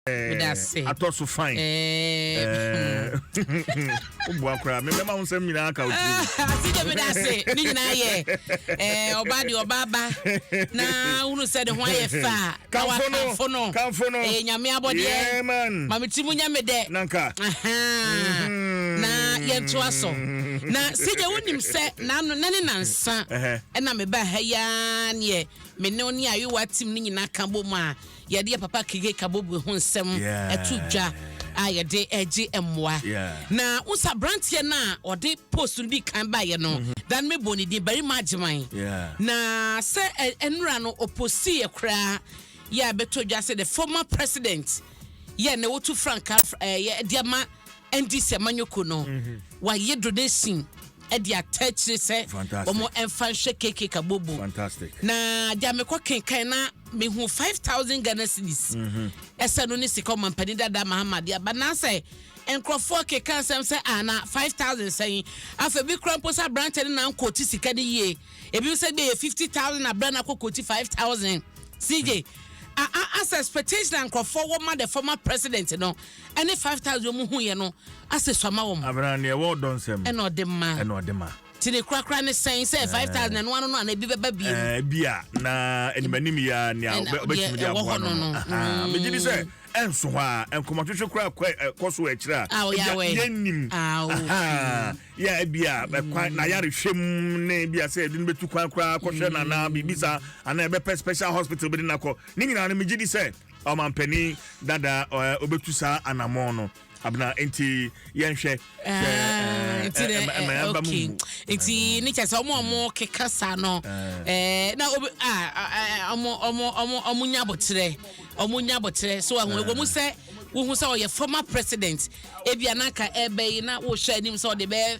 medase atɔ so fine eh, woboa koraa mebɛma wo nsɛm nyinaa ka wotitigye medase ne nyinaa yɛ ɔba de ɔbaaba na wonu sɛ ne ho ayɛ fa kamfo no kamfo no ɛyɛ nyame abɔdeɛ ma meti mu nya me dɛ nanka mm-hmm. na yɛntoa so na sɛgya wonim sɛ nano na ne nansa ɛna mebaa ha yi ara neɛ me ne wo ne ayewa tim no nyinaa ka bɔ mu a Yɛde yɛn papa Kige Kaboboe ho nsɛm to dwa a yɛde regye mmoa. Na wohu sɛ aberanteɛ no a ɔde post no di kan baeɛ no, mm-hmm. da no mebɔ ne din Barima Agyeman. Na sɛ nnura no ɔposiiɛ koraa yɛ a bɛtɔ dwa sɛ the former president yɛ na wotu frankaa eh, de ama Ɛnti sɛ manyoko no wayɛ donation ɛde ata akyire sɛ wɔn ɛnfa nhwɛ KK Kabobo na deɛ mekɔ kenkan na mehu five thousand Ghana cedis ɛsɛ no ne sika ɔmampanin dada Mahama de aba nansɛ nkurɔfoɔ keka nsɛm sɛ a na five thousand sɛn afɛ bi kura mpo sɛ aberanteɛ no na nkɔɔti sika no yie ebi sɛ bi yɛ fifty thousand abira na akɔ kɔɔti five thousand CJ. Mm -hmm. as expectation nkurɔfoɔ wɔ ma the former president no Ɛne five thousand wɔn hu yɛ no ase sɔ ma wɔn. Abena nea ɛwɔ ɔdɔ nsam. Ɛna ɔde ma. Ɛna ɔde ma. Ti ne korakora ne sɛn sɛ five thousand ɛno ano no ana ebi bɛba biem. Ɛɛ ebi a na animanim yi a nea ɔbɛtumi de aboa no no. Ahaa megye di sɛ ɛnso hɔ a nkɔmɔtwetwe koraa kɔ ɛkɔ so akyire a. A ɔyɛ awɛ. Yɛn nim. Ahaa yɛ ebi a ɛkwan na yare hwɛ mu ne ebi a sɛ ɛde no bɛtu kwan koraa kɔhwɛ na na biribi saa ana ɛbɛpɛ special hospital bɛde nakɔ ne nyinaa no megye di sɛ. Ɔmanpanin dada ɔɛ ɔbɛtu saa anamɔn no abena nti yɛnhwɛ sɛ ɛma yɛn ba mu mu. nti ne kyɛ sɛ ɔmo ɔmo keka saa no ɛɛ na obi a ɔmo ɔmo ɔmo ɔmo nya abɔkyerɛ ɔmo nya abɔkyerɛ so ɛho ɛwɔ mu sɛ wohu sɛ ɔyɛ former president ebi anaka ɛbɛyi na wohwɛ anim sɛ ɔde bɛɛ.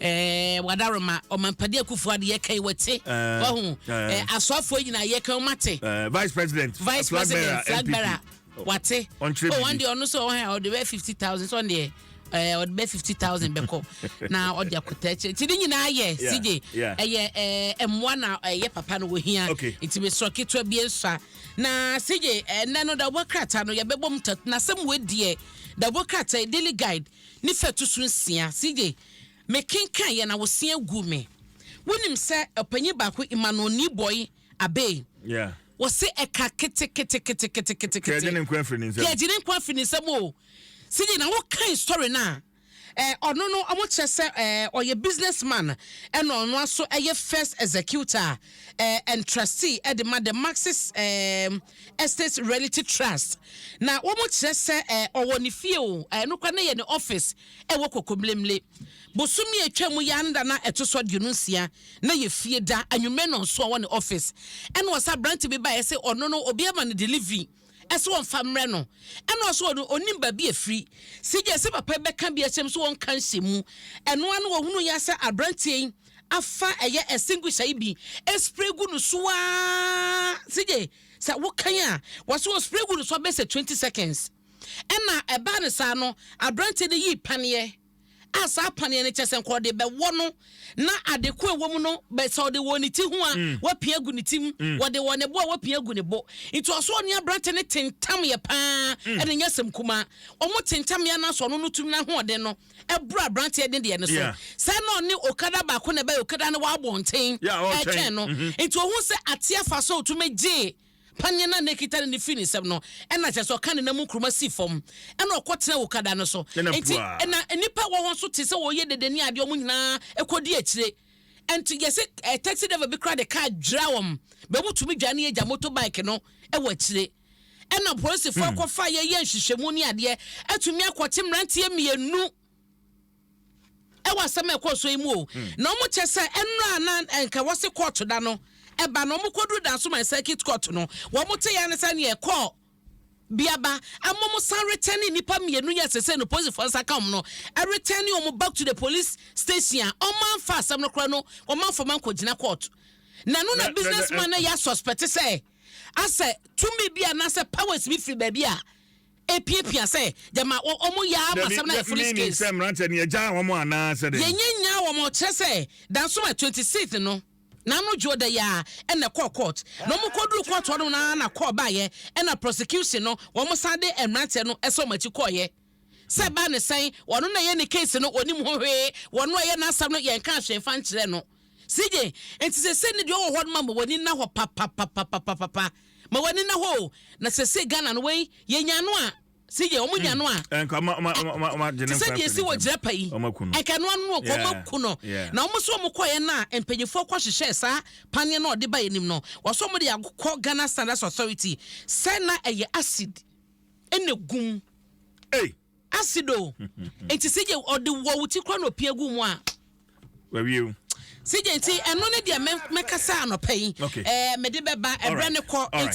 Eh, Wadaroma, Ɔmampadi Akufo Ado yɛ kan wɔte. Eh, Wahu, eh, eh Asoafoɔ nyinaa yɛ kan wɔate. Eh, Vice President, Vice President, Flag Bearer, wɔate. Oh, wɔn deɛ ɔno sɛ ɔhɛn ɔde bɛ fifty thousand sɔn deɛ. Eh, ɔde bɛ fifty thousand bɛkɔ na ɔde akɔtɛ kyɛ ti ne nyinaa yɛ sigye ɛyɛ eh, eh, mmoa na ɛyɛ papa no wɔhia nti mesrɛ ketewa bi nsa na sigye ɛnɛ no da wɔkrata no yɛbɛbɔ mu tat na sɛ mu adiɛ da wɔkrata daily guide ne fa ɛto so nsia. CJ, Mekenkaeɛ na wo se aguu me. Wonim sɛ ɔpanyin baako, Emmanuel Niboi Abey, Yeah. wɔse ɛka keteketeketeketekete. Ka agye ne nkoa firi ne nsam. Ka agye ne nkoa firi ne nsam o. CJ, na wokae story no a, eh, ɔno no, wɔkyerɛ sɛ eh, ɔyɛ business man, ɛna ɔno aso ɛyɛ first executor eh, and trustee ɛde ma the Marxist eh, Estate Realty Trust, na wɔkyerɛ sɛ ɔwɔ ne fie o, ɛno koraa na ɛyɛ ne office ɛwɔ Kokomlemle. Bosome a atwa mu yi ara ne da na ɛto so aduonu nsia na yɛ fie da, anwummerɛ nnɔnso ɔwɔ ne office. Ɛna ɔsɛ aberante bi baeɛ sɛ ɔno no obi ama no delivery ɛsɛ ɔmfa mmerɛ no, ɛna ɔsɛ ɔno ɔnim baabi ɛfiri. Sigye sɛ papa bɛka bi akyerɛ mu sɛ ɔnka nhyɛ mu, ɛno ara na ɔhunu yɛ sɛ aberanteɛ yi afa ɛyɛ extinguisher yi bi spray gu no so aa sigye sɛ wokan a wɔso wɔ spray gu no so abɛ sɛ 20 seconds ɛna ɛbaa no saa no aberanteɛ no yii paneɛ a saa paneɛ no kyɛ sɛ nka ɔde bɛwɔ no na ade ko ɛwɔ mu no bɛ sɛ ɔde wɔ ne ti ho a mm. wapia gu ne ti mu mm. wɔde wɔ ne bo a wapia gu ne bo nti ɔso ɔne aberante no tentam yɛ paa mm. ɛna nyɛ sɛm kuma wɔn tentam yɛ anaasɛ ɔno no tumi n'ahoɔden no ɛboro aberanteɛ ne deɛ no so Yeah. sɛ na ɔne okada baako na ɛbɛyɛ okada no wɔ abɔnten Yeah, ɔretwɛn. ɛretwɛn no Mhm. nti ohun sɛ ateɛ afa so a otumi gyee paneɛ no a na ekita no ne firi ne nsam no ɛna kyerɛ sɛ ɔka ne nam nkuruma si fam ɛna ɔkɔ tena okada no so Ɛna nti puaa. ɛna nnipa a ɛwɔ hɔ nso te sɛ wɔyɛ dede ne adeɛ wɔn nyinaa ɛkɔdi akyire nti yɛsɛ eh, taxi driver bi koraa de kaa dwira wɔn bɛmu tumi dwane agya motorbike no ɛwɔ akyire ɛna polisifo akɔfa yɛyɛ nhwehwɛmu ne adeɛ atumi akɔte mmeranteɛ mmienu ɛwɔ asɛm a ɛkɔɔ so yi mu o na wɔn kyɛ sɛ ɛnura a na nka wɔsi kɔɔto da no ɛba na wɔn kɔduru dan so ma circuit court no wɔn te ya ne sɛ neɛ ɛkɔɔ biaba ama wɔn san retɛn ne nipa mmienu yɛ sese no polisifo nsa ka wɔn no ɛretɛn ne wɔn back to the police station a wɔn anfa asɛm no kora no wɔn anfa wɔn ankɔgyina court na no na business man na yɛ asuspɛte sɛ. asɛ tumi bi anaasɛ powers bi firi baabi a epiapia sɛ gyama wɔn yɛ ama asɛm na yɛ foolish case. Dabi, mi sɛ mmeranteɛ no yɛ gyaa wɔn anaa sɛ dɛ. Yɛ nyɛ nyaa wɔn, ɔkyerɛ sɛ dansoma twenty sixth no, n'ano dwo da yɛ a ɛna ɛkɔɔ court, na wɔn kɔ duru court hɔ nom na na call baayɛ ɛna prosecution no wɔn san de mmeranteɛ no ɛsɛ wɔn akyi kɔɔyɛ. Sɛ ɛbaa no sɛn, ɔno na ɛyɛ ne case no, ɔnim ho hwee, wɔno a ɛyɛ n'asɛm no yɛnkaa hwee mfa nkyerɛ no. CJ, Enti sesei no deɛ ɔwɔ hɔ no ma ma w'ani nna hɔ papapapapapapa, ma w'ani nna hɔ o, na sesei Ghana no wei, yɛnya no a, CJ, wɔn nya no a, ɛ, te sɛ deɛ ɛsi wɔ Jirapa yi, nka ɛno ano no, nka wɔn aku no, na wɔn nso wɔn kɔeɛ no a, mpanimfoɔ kɔ hyehyɛɛ saa paneɛ no a ɔde baeɛ nim no, wɔso wɔn de akɔ Ghana Standards Authority, sɛ na ɛyɛ acid ɛna gu mu ei acid o nti sigye ɔde wɔ wo ti kora na ɔpia gu mu a wawie o sigye nti ɛno ne deɛ mɛkasa anɔpa yi ɛɛ mede bɛba ɛbrɛ ne kɔ nti